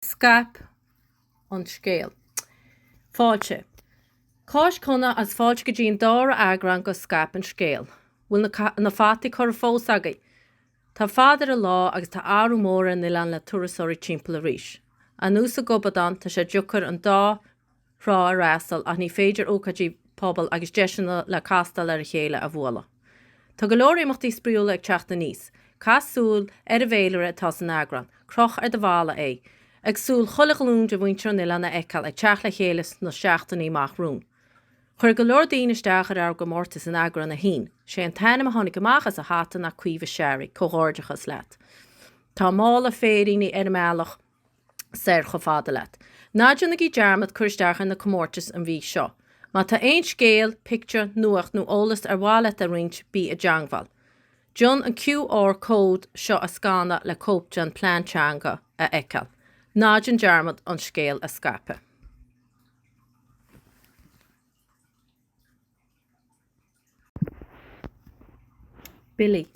Scaip an scéal. Fáilte. Cáisc shona agus fáilte go dtí an dára eagrán de Scaip an Scéal. Bhfuil na fataí curtha fós agaibh? Tá fad ar an lá agus tá athrú mór ar an oileán le turasóirí timpeall arís. Ar nós an ghobadáin tá sé deacair an dá thrá a fhreastal ach ní féidir ócáidí pobail agus deiseanna le castáil ar a chéile a bhualadh. Tá go leor imeachtaí spraíúla ag teacht aníos. Caith súil ar an bhféilire atá san eagrán, croch ar do bhalla é, ag súil chuile ghlún de mhuintir an oileáin a fheiceáil ag teacht le chéile sna seachtainí amach romhainn. Chuir go leor daoine isteach ar ár gcomórtas in eagrán 1. Sé an t-ainm a tháinig amach as an hata ná Caoimhe Sherry, comhghairdeachas leat. Tá mála féiríní ar an mbealach. soir chomh fada leat. Ná déanaigí dearmad cur isteach ar na comórtais an mhí seo. Má tá aon scéal, pictiúr, nuacht nó eolas ar mhaith leat a roinnt, bí i dteangmháil. Déan an QR code seo a scanadh le cóip den Phlean Teanga a fheiceáil. Ná déan dearmad an scéal a scaipeadh. Billí.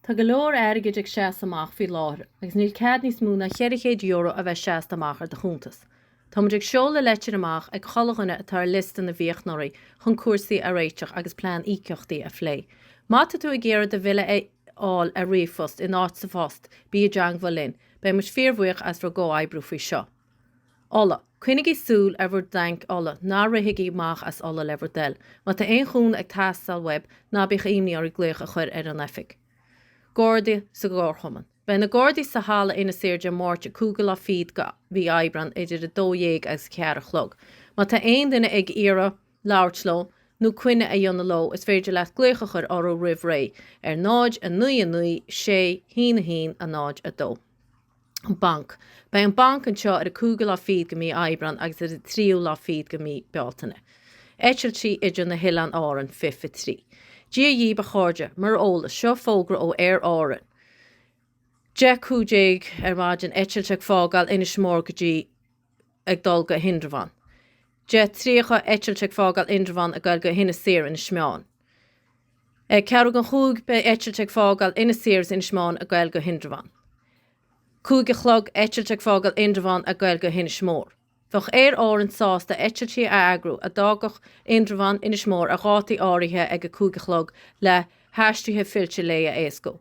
Tá go leor airgid ag seasamh amach faoi láthair agus níl cead níos mó ná €400 a bheith seasta amach ar do chuntas. Táimid ag seoladh leitir amach ag chuile dhuine atá ar liosta na bhfiachnóirí chun cúrsaí a réiteach agus plean íocaíochtaí a phlé. Má tá tú ag iarraidh do bhille a fháil ar ríomhphost in áit sa phost, bí i dteangmháil linn. Beidh muid fíorbhuíoch as bhur gcomhoibriú faoi seo. ola. Coinnigí súil ar bhur dtainc ola, ná rithigí amach as ola le bhur dtoil. Má tá aon chúnamh ag teastáil uaibh, ná bíodh imní oraibh glaoch a chur ar an oifig. Gardaí sa gComharchumann. Beidh na Gardaí sa Halla Inis Oírr Dé Máirt 5ú lá fichead de mhí Aibreán idir 12 agus a ceathair a chlog. Má tá aon duine ag iarraidh labhairt leo nó coinne a dhéanamh leo is féidir leat glaoch a chur orthu roimh ré ar 0, 9, 9, 6, 1, 1, 0, 2. an Banc. Beidh an Banc anseo ar an cúigiú lá fichead de mhí Aibreán agus ar an tríú lá fichead de mhí Bealtaine. Eitiltí idir na hOileáin Árann, fiche fiche trí. Dia dhíbh a chairde, mar eolas, seo fógra ó Aer Árann, 10:15 ar maidin, eitilt ag fágáil Inis Mór go dtí. ag dul go hIndreabhán. Deich tríocha eitilt ag fágáil Indreabhán ag goil go hInis Oírr, Inis Meáin. Ag ceathrú chun a cúig beidh eitilt ag fágáil Inis Oírr is Inis Meáin ag goil go hIndreabhán. Cúig a chlog eitilt ag fágáil Indreabhán ag goil go hInis Mór. Bheadh Aer Árann sásta eitiltí a eagrú a d'fhágfadh Indreabhán, Inis Mór ar dhátaí áirithe ag a cúig a chlog le haistir fillte lae a éascú.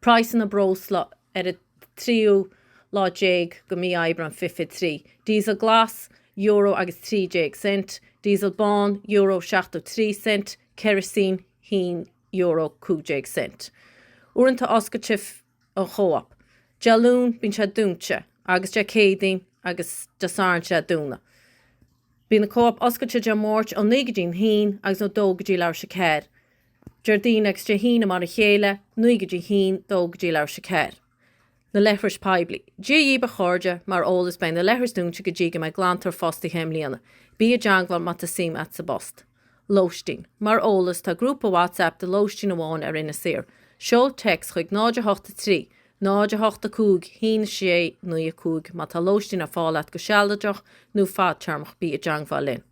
Praghsanna breosla ar an tríú lá déag de mhí Aibreán, fiche 3. Diesel glas, euro agus trí déag cent, diesel bán, euro 70 trí cent, ceirisín, haon euro 15 cent. Uaireanta oscailte an Chóop. Dé Luain bíonn sé dúnta agus Dé Céadaoin agus Dé Sathairn tá sé dúnta. Bíonn an Cóop oscailte Dé Máirt ó naoi go dtí a haon agus ó dó go dtí leathuair tar éis a ceathair. Déardaoin agus Dé hAoine mar a chéile, naoi go dtí haon, dó go dtí leathuair tar éis a ceathair. Na leithris poiblí. Dia dhíbh a chairde, mar eolas beidh na leithris dúinte go dtí go mbeidh glantóir fostaithe i mbliana. Bí i dteangmháil má tá suim a't sa bpost. Lóistín. Mar eolas tá grúpa WhatsApp do lóistín amháin ar Inis Oírr. Seol text chuig 0 8 3, 0 8 5, haon 6 9 5 má tá lóistín ar fáil a't go sealadach nó fadtéarmach bí i dteangmháil linn.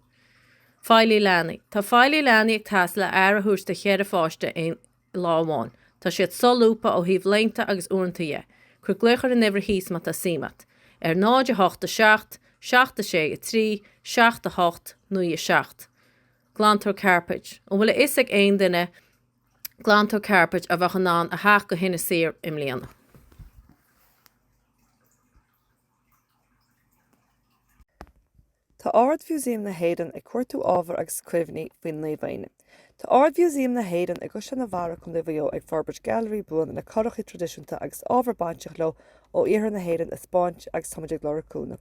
Feighlí leanaí. Tá feighlí leanaí ag teastáil le aire a thabhairt do cheithre pháiste aon lá amháin. Tá siad solúbtha ó thaobh laethanta agus uaireanta dhe. Cuir glaoch ar an uimhir thíos má tá suim a't, ar 0, 8, 7, 7, 6, 3, 7, 8, 9, 7. Glantóir Cairpéid. An bhfuil a fhios ag aon duine glantóir cairpéid a bheadh in ann a theacht go hInis Oírr i mbliana? Tá Ard-Mhúsaem na hÉireann ag cuartú ábhar agus cuimhní faoin Naomh Éinne. Tá Ard-Mhúsaem na hÉireann i gCaisleán an Bharraigh, Contae Mhaigh Eo ag forbairt gailearaí buan le curachaí traidisiúnta agus ábhar bainteach leo ó iarthar na hÉireann a 'speáint agus táimid ag lorg cúnamh.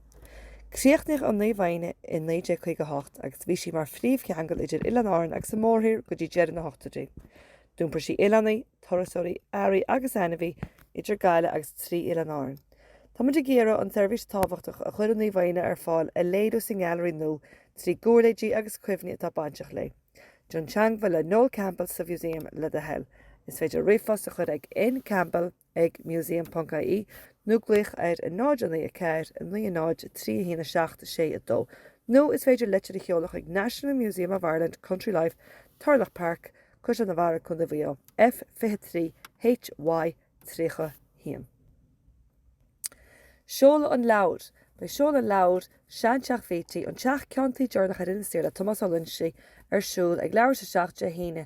Críochnaíodh an Naomh Éinne i 1958 agus bhí sí mar phríomhcheangal idir Oileáin Árann agus an mórthír go dtí deireadh na hochtóidí. D'iompair sí oileánaigh, turasóirí, earraí agus ainmhithe idir Gaillimh agus trí Oileán Árann. Táimid ag iarraidh an tseirbhís tábhachtach a chuir an Naomh Éinne ar fáil a léiriú sa nGailearaí nua trí giúirléidí agus cuimhní atá bainteach léi. Déan teangmháil le Noel Campbell sa Mhúsaem, le do thoil. Is féidir ríomhphost a chur ag n campbell. ag museum.ie, nó glaoch ar 094 90 31 7 6 2, nó is féidir leitir a sheoladh chuig National Museum of Ireland, Country Life, Turlough Park, Caisleán an Bharraigh, Co. Mhaigh Eo, F23 HY31. Seoladh an leabhair, Beidh seoladh an leabhair Seanteach Bhítí, An Teach Ceann Tuí Deireanach ar Inis Oírr le Tomás Ó Loinsigh ar siúl ag leathuair tar éis a 7 Dé hAoine,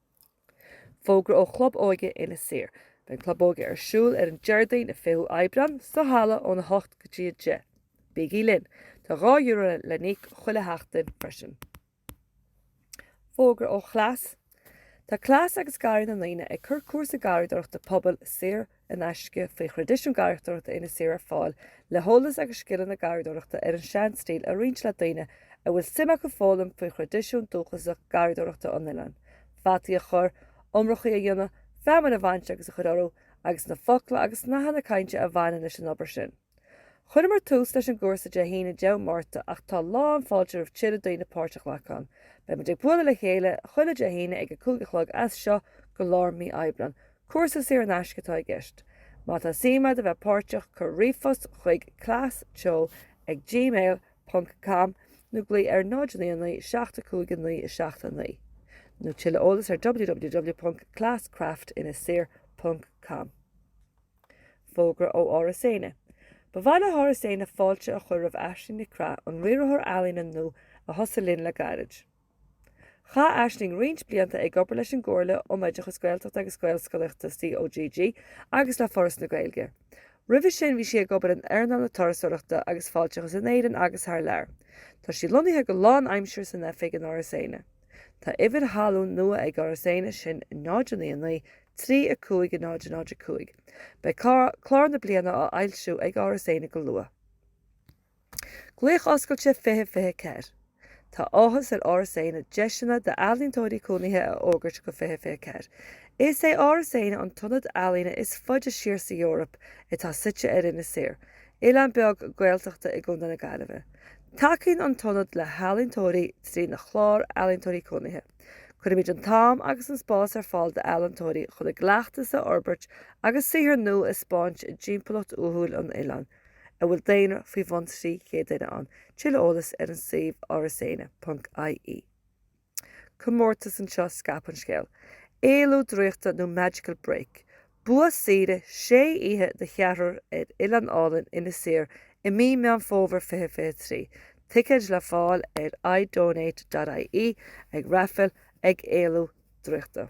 Fógra ó Chlub Óige Inis Oírr. Beidh an Club Óige ar siúl ar an Déardaoin an 20ú Aibreán sa halla óna hocht go dtí a deich. Bígí linn! Tá dhá euro le n-íoc chuile sheachtain freisin. Fógra ó Chleas. Tá Cleas agus Garraí na nDaoine ag cur cúrsa garraíodóireachta pobail saor in aisce faoi Thraidisiún Garraíochtúireachta Inis Oírr ar fáil le heolas agus scileanna garraíodóireachta ar an seanstíl a roinnt le daoine a bhfuil suim acu foghlaim faoi thraidisiún dúchasach garraíodóireachta an oileáin, fataí a chur, iomrachaí a dhéanamh, feamainn a bhaint agus a chur orthu, agus na focla agus nathanna cainte a bhaineann leis an obair sin. Chuireamar tús leis an gcúrsa Dé hAoine 10ú Márta ach tá lán fáilte roimh tuilleadh daoine páirt a ghlacadh ann. Beimid ag bualadh le chéile chuile Dé hAoine ag a cúig a chlog as seo go lár mí Aibreán. Cúrsa saor in aisce atá i gceist. Má tá suim agat a bheith páirteach cuir ríomhphost chuig class teo ag gmail ponc com nó glaoigh ar 099 75 9 7 9 nó tuilleadh eolais ar www ponc class craft Inis Oírr ponc com. Fógra ó Áras Éanna Ba mhaith le hÁras Éanna fáilte a chur roimh Aisling Nic Craith, an Riarthóir Ealaíne nua a thosaigh linn le gairid. Chaith Aisling roinnt blianta ag obair leis an gComhairle um Oideachas Gaeltachta agus Gaelscolaíochta, COGG, agus le Foras na Gaeilge. Roimhe sin bhí sí ag obair in earnáil na turasóireachta agus fáilteachais in Éirinn agus thar lear. Tá sí lonnaithe go lánaimsire san oifig in Áras Éanna. Tá uimhir thalún nua ag Áras Éanna, sin 099 35 0005. Beidh clár na bliana á fhoilsiú ag Áras Éanna go luath. Glaoch Oscailte 2024 Tá áthas ar Áras Éanna deiseanna d'ealaíontóirí cónaithe a fhógairt go 2024. Is é Áras Éanna an t-ionad ealaíne is faide siar sa Eoraip atá suite ar Inis Oírr, oileán beag Gaeltachta i gContae na Gaillimhe. Tacaíonn an tIonad le healaíontóirí trína Chlár Ealaíontóirí Cónaithe. Cuirimid an t-am agus an spás ar fáil d'ealaíontóirí chun a gcleachtas a fhorbairt agus saothar nua a thaispeáint i dtimpeallacht uathúil an oileáin, a bhfuil daonra faoi bhun 300 duine ann, tuilleadh eolais ar an suíomh arasaeanna.ie. comórtas anseo scaip an scéal! Éalú Draíochta nó Magical Break? Bua saoire sé oíche do cheathrar ar oileán álainn Inis Oírr i mí Meán Fómhair 2023. Ticéid le fáil ar iDonate.ie ag Raifil ag Éalú Draíochta.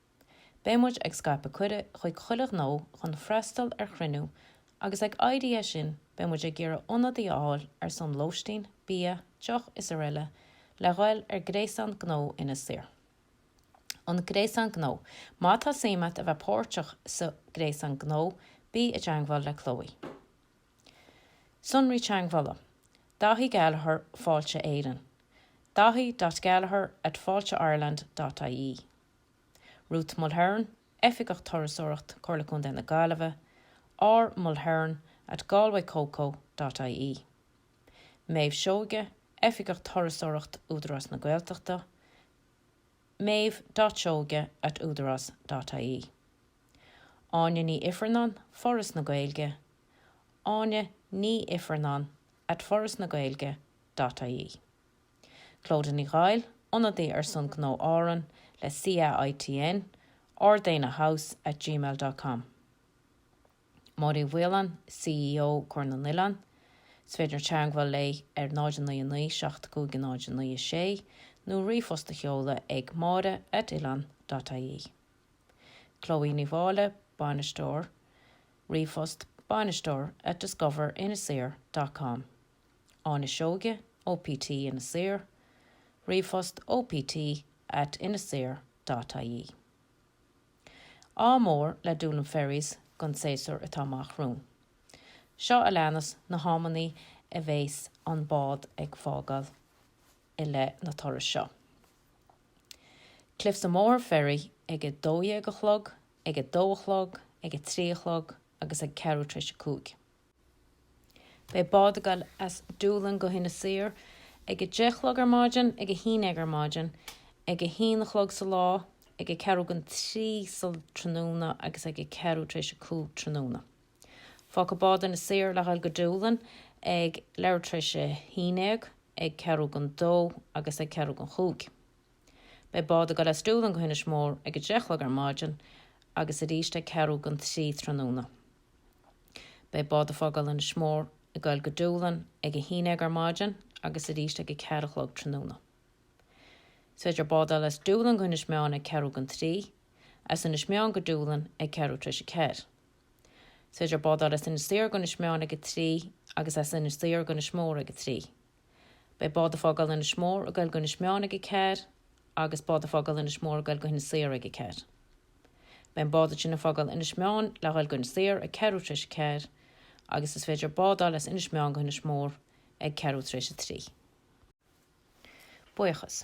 Beidh muid ag scaipeadh cuireadh chuig chuile ghnó chun freastal ar chruinniú agus ag éirí as sin beidh muid ag iarraidh ionadaí a fháil ar son lóistín, bia, deoch is araile le ghoil ar Gréasán Gnó Inis Oírr. An Gréasán Gnó, Má tá suim agat a bheith páirteach sa Ghréasán Gnó, bí i dteagmháil le Chloe. Sonraí teagmhála, Daithí Gallagher, Fáilte Éireann, daithi.gallagher@failteireland.ie. Ruth Mulhern, Oifigeach Turasóireacht, Comhairle Contae na Gaillimhe, R Mulhern at galwaycoco dot ie. Méabh Seoige, Oifigeach Turasóireacht, Údarás na Gaeltachta, meabh dot seoige at udaras dot ie. Áine Ní Ifearnáin, Foras na Gaeilge, áine ni ifearnáin at forasnagaeilge dot ie. Clodagh Ní Ghoill, ionadaí ar son Ghnó Árann le CAITN, ardeinne house at gmail dot com Máire Uí Mhaoláin, CEO Comhar na nOileán, Is féidir teagmháil léi ar 099 75096 nó ríomhphost a sheoladh ag Máire at oileán dot ie. Chloe Ní Mháille, Bainisteoir, ríomhphost, bainisteoir at discover inisoirr dot com. Áine Seoige, OPT Inis Oírr, ríomhphost opt at inisoirr.ie. Ádh mór le Doolin Ferries gon séasúr atá amach romhainn. Seo a leanas na hamannaí a bhéas an bád ag fágáil i leith na turas seo. Cliffs of Moher Ferry ag a 12 a chlog, ag a 2 a chlog, ag a 3 a chlog agus ag ceathrú tar éis a cúig. Beidh bád ag dul as Doolin go hInis Oírr ag a deich a chlog ar maidin, ag a haon déag ar maidin, ag a haon a chlog sa lá, ag ceathrú gan trí sa tráthnóna agus ag ceathrú tar éis a cúig tráthnóna. Fágfaidh bád Inis Oírr le dhul go Doolin ag leathuair tar éis a haon déag, ag ceathrú gan dó agus ag ceathrú gan chúig. Beidh bád ag dul as Doolin go hInis Mór ag a deich a chlog ar maidin agus arís ag ceathrú gan trí tráthnóna. Beidh bád a' fágáil Inis Mór a ghoil go Dúlainn ag a haon déag ar maidin agus arís ag a ceathair a chlog tráthnóna. Is féidir bád a fháil as Dúlainn go hInis Meáin ag ceathrú gan trí, as Inis Meáin go Dúlainn ag ceathrú tar éis a ceathair. Is féidir bád a fháil as Inis Oírr go hInis Meáin ag a trí agus as Inis Oírr go hInis Mór ag a trí. Beidh bád a' Fágáil Inis Mór a ghoil go Inis Meáin ag a ceathair agus bád a' Fágáil Inis Mór a ghoil go hInis Oírr ag a ceathair. Beidh an bád sin a fágáil Inis Meáin le ghoil go Inis Oírr ag ceathrú tar éis a ceathair agus is féidir bád a fháil as Inis Meáin go hInis Mór ag ceathrú tar éis a trí. Buíochas.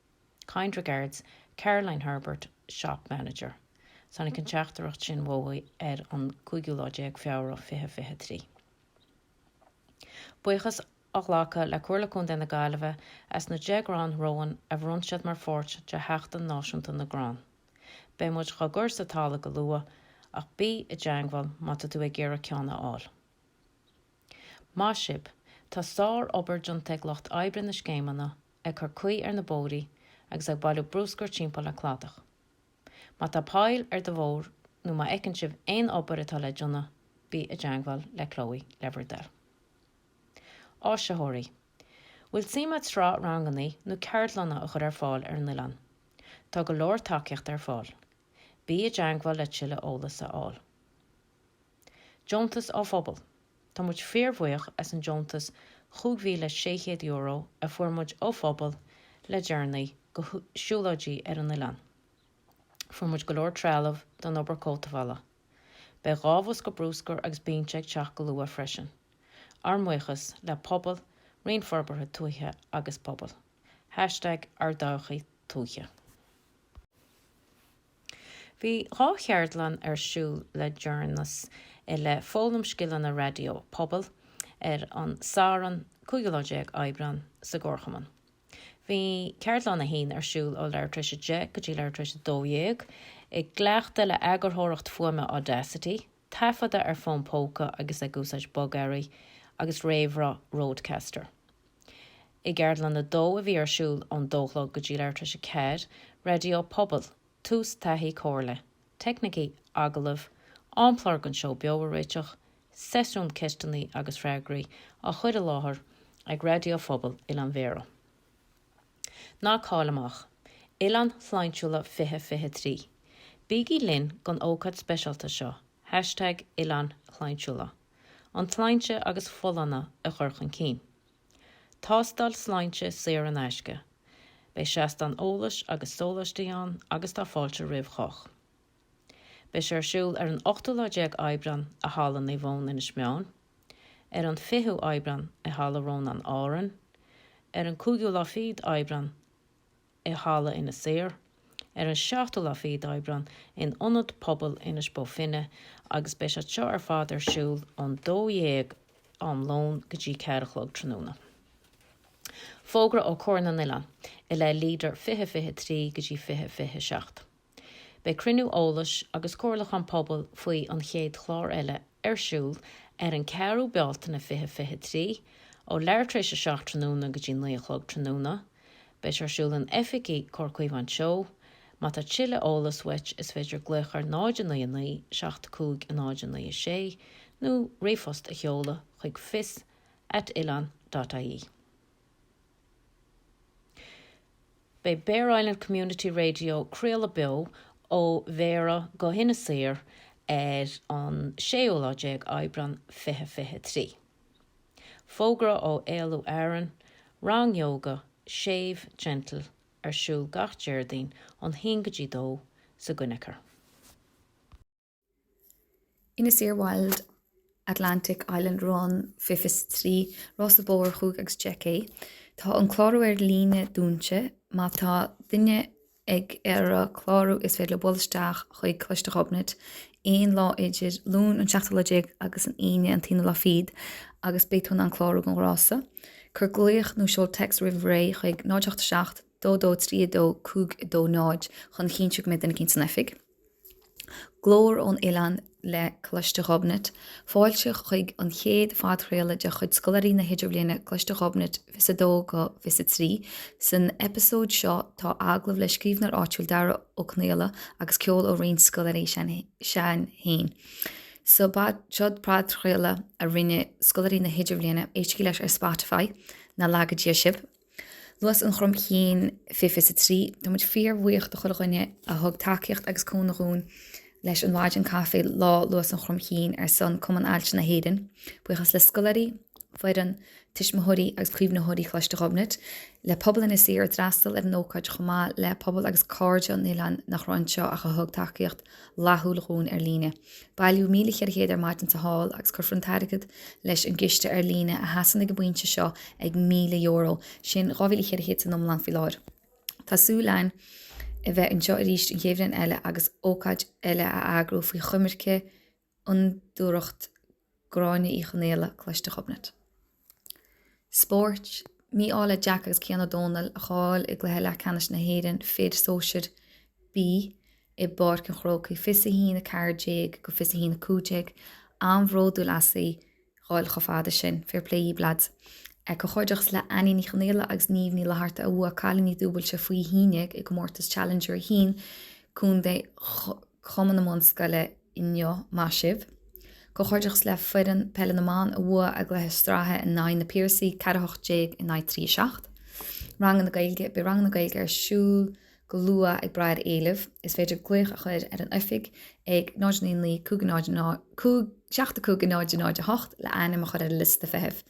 Kind regards, Caroline Herbert, Shop Manager. Tháinig an teachtaireacht sin uaithi ar an gcúigiú lá déag Feabhra 2023. Buíochas á ghlacadh le Comhairle Contae na Gaillimhe as na deich gcrann rowan a bhronn siad mar pháirt de Sheachtain Náisiúnta na gCrann. Beidh muid dá gcur sa talamh go luath ach bí i dteangmháil má tá tú ag iarraidh ceann a fháil. Maith sibh! Tá sár-obair déanta ag lucht oibre na scéimeanna ag cur caoi ar na bóithrí agus ag bailiú bruscar timpeall le cladach. Má tá poill ar do bhóthar nó má fheiceann sibh aon obair atá le déanamh, bí i dteangmháil le Chloe le bhur dtoil. Áisitheoirí, Bhfuil suim a't sraith rangannaí nó ceardlanna a chur ar fáil ar an oileán? Tá go leor tacaíocht ar fáil. Bí i dteangmháil le tuilleadh eolas a fháil. Deontas ó Phobal. Tá muid fíorbhuíoch as an deontas €5,600 a fuair muid ó Phobal le deireanaí go Siúlóidí ar an Oileán. Fuair muid go leor trealamh don obair cothabhála. Beidh dhá bhosca bruscair agus binse ag teacht go luath freisin. Ár mbuíochas le Pobal, Roinn Forbartha Tuaithe agus Pobail. #ÁrdTodhchaí Tuaithe. Bhí dhá cheardlann ar siúl le deireanas i leith foghlaim scileanna raidió pobail ar an Satharn 15 lá Aibreán sa gComharchumann. Bhí Ceardlann 1 ar siúl ó leathuair tar éis a deich go dtí leathuair tar éis a dó dhéag i gcleachtadh le eagarthóireacht fuaime Audacity, taifeadadh ar fón póca agus ag úsáid bogearraí agus réamhrá Rodecaster. I gCeardlann 2, a bhí ar siúl ón dó a chlog go dtí leathuair tar éis a ceathair, raidió pobail, tús taithí comhairle, teicnící agallaimh, amchlár don seó beo a réiteach, seisiún ceisteannaí agus freagraí á chuir i láthair ag Raidió Phobail Oileán Bhéarra. Ná caill amach. Oileáin Shláintiúla 2023, Bígí linn don ócáid speisialta seo, hashtag Oileáin Shláintiúla, an tsláinte agus folláine a chur chun cinn. Tástáil sláinte saor in aisce, beidh seastán eolais agus sóláistí ann agus tá fáilte roimh chách. Beidh sé ar siúl ar an ochtú lá déag Aibreán i Halla Naomh Eoin, Inis Meáin, ar an 20ú Aibreán i Halla Rónáin, Árainn, ar an cúigiú lá fichead Aibreán i Halla Inis Oírr, ar an seachtú lá fichead Aibreán in Ionad Pobail Inis Bó Finne agus beidh siad seo ar fad ar siúl ón dó dhéag am lón go dtí ceathair a chlog tráthnóna. Fógra ó Chomhar na nOileán i leith Leader 2023 go dtí 2027. Beidh cruinniú eolais agus comhairliúchán pobail faoi An Chéad Chlár Eile ar siúl ar an 4ú Bealtaine 2023 ó leathuair tar éis a seacht tráthnóna go dtí naoi a chlog tráthnóna. Beidh sé ar siúl in oifigí Comhar Caomhán Teo. Má tá tuilleadh eolas uait is féidir glaoch ar 099 75 09 6 nó ríomhphost a sheoladh chuig fios at oileán dot ie. Beidh Bere Island Community Radio craoladh beo ó Bhéarra go hInis Oírr ar an 16ú lá Aibreán 2023. Fógra ó Éalú Árann, Rang Yoga séimh, gentle, ar siúl gach Déardaoin ón haon go dtí dó sa gCoinicéar. Inis Oírr Wild Atlantic Island Run 2023 Rása Bóthair Chúig agus Deich K. Tá an clárú ar líne dúnta. Má tá duine ag iarraidh clárú is féidir leo bualadh isteach chuig Coláiste Ghobnait aon lá idir Luan an 17ú lá agus an Aoine an t-aonú lá fichead agus beidh tú in ann clárú don rása. Cuir glaoch nó seol text roimh ré chuig 087 22 32 52 0 chun a chinntiú go mbeidh duine cinnte san oifig. Glór ón Oileán le Coláiste Ghobnait, Fáilte chuig an chéad phodchraoladh de chuid scoláirí na hIdirbhliana Coláiste Ghobnait 22 go 23. San eipeasóid seo tá agallamh le scríbhneoir áitiúil Dara Ó Conaola agus ceol ó roinnt scoláirí sinn féin. So b'shiod podchraoladh a rinne scoláirí na hIdirbhliana, éistigí leis ar Spotify, nár laga Dia sibh! Lus an Chromchinn 2023. Táimid fíorbhuíoch do chuile dhuine a thug tacaíocht agus cúnamh dhúinn leis an mhaidin caife Lá Lus an Chromchinn ar son Cumann Ailse na hÉireann. Buíochas le scoláirí, foireann, tuismitheoirí agus caomhnaitheoirí Choláiste Ghobnait, le pobal Inis Oírr a d'fhreastal ar an ócáid chomh maith le pobal agus cairde an oileáin nach raibh anseo ach a thug tacaíocht fhlaithiúil dhúinn ar líne. Bailíodh €1,400 ar maidin sa Hall agus cuirfear an t-airgead leis an gciste ar líne a sheasann ag an bpointe seo ag €1,000, sin 2,400 san iomlán faoi láthair. Tá súil againn a bheith anseo arís an chéad bhliain eile agus ócáid eile a eagrú faoi choimirce Fhondúireacht Gráinne Uí Chonghaile, Coláiste Ghobnait. Spóirt, Mí-ádh le Jack agus Cian Ó Dónaill a chaill i gcluiche leathcheannais na hÉireann Fir Sóisir B i bPáirc an Chrócaigh, 21 14-21 15, an-bhródúil asaibh a dhul chomh fada sin, fair play dhaoibh lads. Comhghairdeachas le Annie Ní Chonghaile agus Niamh Ní Fhlatharta a bhuaigh cailíní dúbailte faoi haon déag i gcomórtas Challenger 1, Co. Cumann na mBunscol inniu, maith sibh! Comhghairdeachas le foireann peile na mban a bhua a gcluiche sraithe in aghaidh Na Piarsaigh, ceathair a hocht déag in aghaidh trí a seacht. Ranganna Gaeilge Beidh ranganna Gaeilge ar siúl go luath ag braith ar éileamh. Is féidir glaoch a chuir ar an oifig ag 0 9 9 5 0 5 7 5 0 0 8 le ainm a chuir ar an liosta feithimh.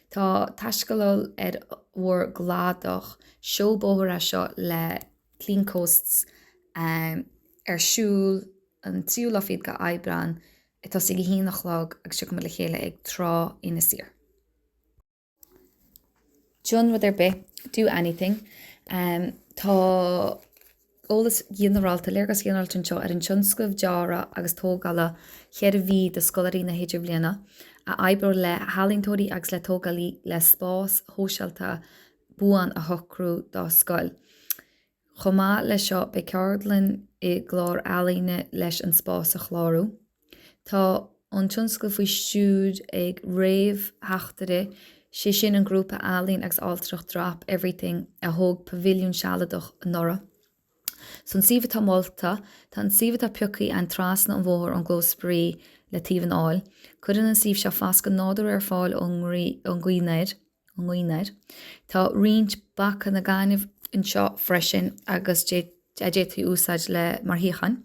Tá taiscéaladh ar bhur gcladach seó bóthair seo le. Clean Coasts, ar siúl an 3ú lá fichead de Aibreán, ag tosaí ag 1 a chlog agus tiocfaidh muid le chéile ag Trá Inis Oírr. Déan rud ar bith, do anything, Tá eolas ghinearálta, léargas ghinearálta anseo ar an tionscnamh dearadh agus tógála 4 mhí do scoláirí na hIdirbhliana a oibreoidh le healaíontóirí agus le tógálaí le spás shóisialta buan a shocrú dá scoil. Chomh maith leis seo, beidh ceardlann i gcláir ealaíne leis an spás a chlárú. Tá an tionscnamh faoi stiúir ag réamhtheachtaire, sé sin an grúpa ealaíon agus ailtireacht Drop Everything a thóg pavilliún sealadach anuraidh. San suíomh atá molta, tá an suíomh atá piocthaí againn trasna an bhóthair ón gclós spraoi le taobh an áil. Cuireann an suíomh seo fascadh nádúrtha ar fáil ón ngaoth aniar. Tá roinnt bancanna gainimh anseo freisin agus a d'fhéadfaí úsáid le mar shuíocháin.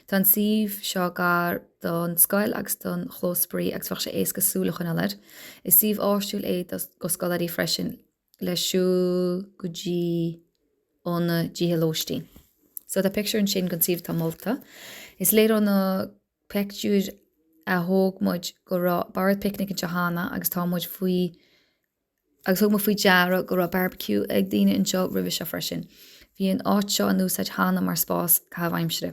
Tá an suíomh seo gar don scoil agus don chlós spraoi agus bheadh sé éasca súil a choinneáil air. Is suíomh áisiúil é do scoláirí freisin le. le siúl go dtí ó na dtithe lóistín. So tá pictiúr ansin den suíomh atá molta. Is léir ó na pictiúir a thóg muid go raibh bord picnic anseo cheana agus tá muid faoi agus thug muid faoi deara go raibh barbecue ag daoine anseo roimhe seo freisin. Bhí an áit seo in úsáid cheana mar spás caitheamh aimsire.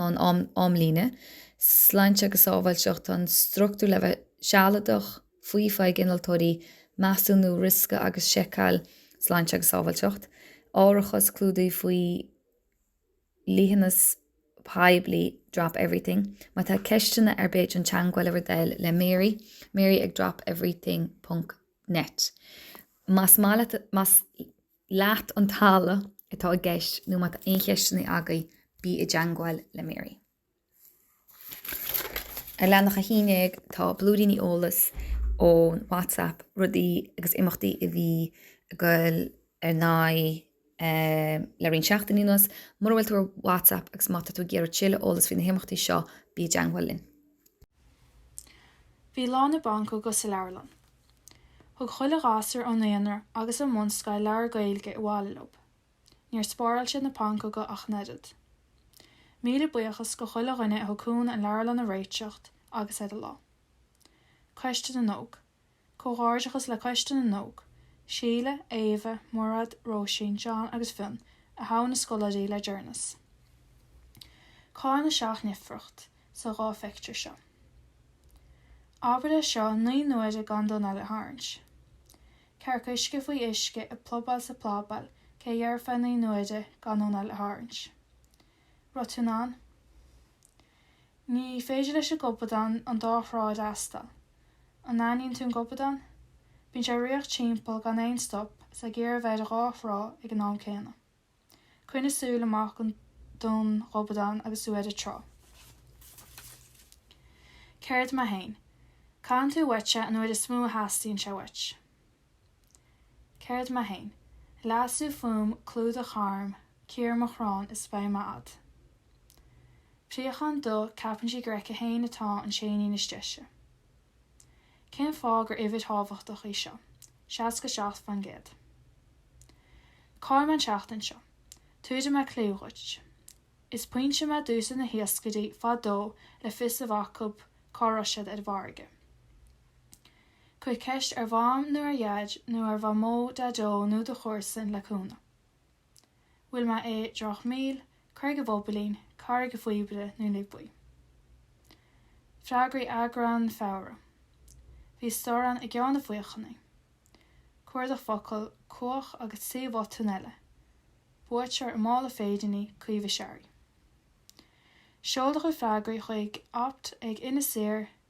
an amlíne, Sláinte agus Sábháilteacht, an struchtúr le bheith sealadach, faofa ag innealtóirí, Measúnú Riosca agus Seiceáil, Sláinte agus Sábháilteacht, Árachas, Clúdaithe faoi Dhliteanas Poiblí, Drop Everything, má tá ceisteanna ar bith déan teagmháil ar dtús le Mary, Mary ag dropeverything ponc net. Más maith leat, más. leat an talamh atá i gceist nó má tá aon cheisteanna agaibh bí i dteangmháil le Mary. Ar leathanach 11 tá blúiríní eolas ón WhatsApp, rudaí agus imeachtaí a bhí ag goil ar aghaidh le roinnt seachtainí anuas. Mura bhfuil tú ar WhatsApp agus má tá tú ag iarraidh tuilleadh eolas faoi na himeachtaí seo bí i dteangmháil linn. Bhí Lá na bPancóg sa leabharlann. Thug chuile ghasúr ón naíonra agus ón mbunscoil leabhar Gaeilge abhaile leo. Níor spáráil siad na pancóga ach an oiread. Míle buíochas go chuile dhuine a thug cúnamh an leabharlann a réiteacht agus ar an lá. Coiste na nÓg. Comhghairdeachas le Coiste na nÓg, Síle, Éabha, Maireád, Róisín, John agus Fionn a thogh na scoláirí le deireanas. Cá'il na seacht ndifríocht. sa dhá phictiúr seo. Abair é seo naoi n-uaire gan d'anáil a tharraingt. Cearc uisce faoi uisce ag plobáil is ag plabáil cé a dhéarfadh é naoi n-uaire gan d'anáil a tharraingt. raibh tú in ann? Ní féidir leis an gobadán an dá thrá a fhreastal. An n-aithníonn tú an gobadán? Bíonn sé ag ritheacht timpeall gan aon stop, is ag iarraidh a bheith ar dhá thrá ag an am céanna. Coinnigh súil amach don ghobadán agus tú ar an trá. Céard mé fhéin? Caitheann tú uait é an uair is mó a theastaíonn sé uait. Céard mé fhéin? Leasú fúm, clúdach tharm, cíor mo chrann is beidh mé a'd. Préachán dubh, ceapann sí gur aici féin atá an t-éinín is deise. Cén fáth gur uimhir thábhachtach í seo, 67%? Cá'il mé an tseachtain seo? Tabharfaidh mé clue dhuit. Is pointe mé a d'úsáid na hiascairí fadó le fios a bheith acu cá raibh siad ar an bhfarraige. Cuir ceist ar Mham nó ar Dhaid nó ar Mhamó, Daideo nó do chomharsan le cúnamh. bhfuil mé i dTrácht Míl, Carraig a' Bhobailín, Carraig a' Phíobaire nó Naomh Buí. Freagraí Eagrán Feabhra Bhí storrán i gCeann na Faochnaí. Cuardach Focal, Cuach agus trí bhotún eile. Buaiteoir an mála féiríní Caoimhe Searraigh. Seol do chuid freagraí chuig opt ag Inis Oírr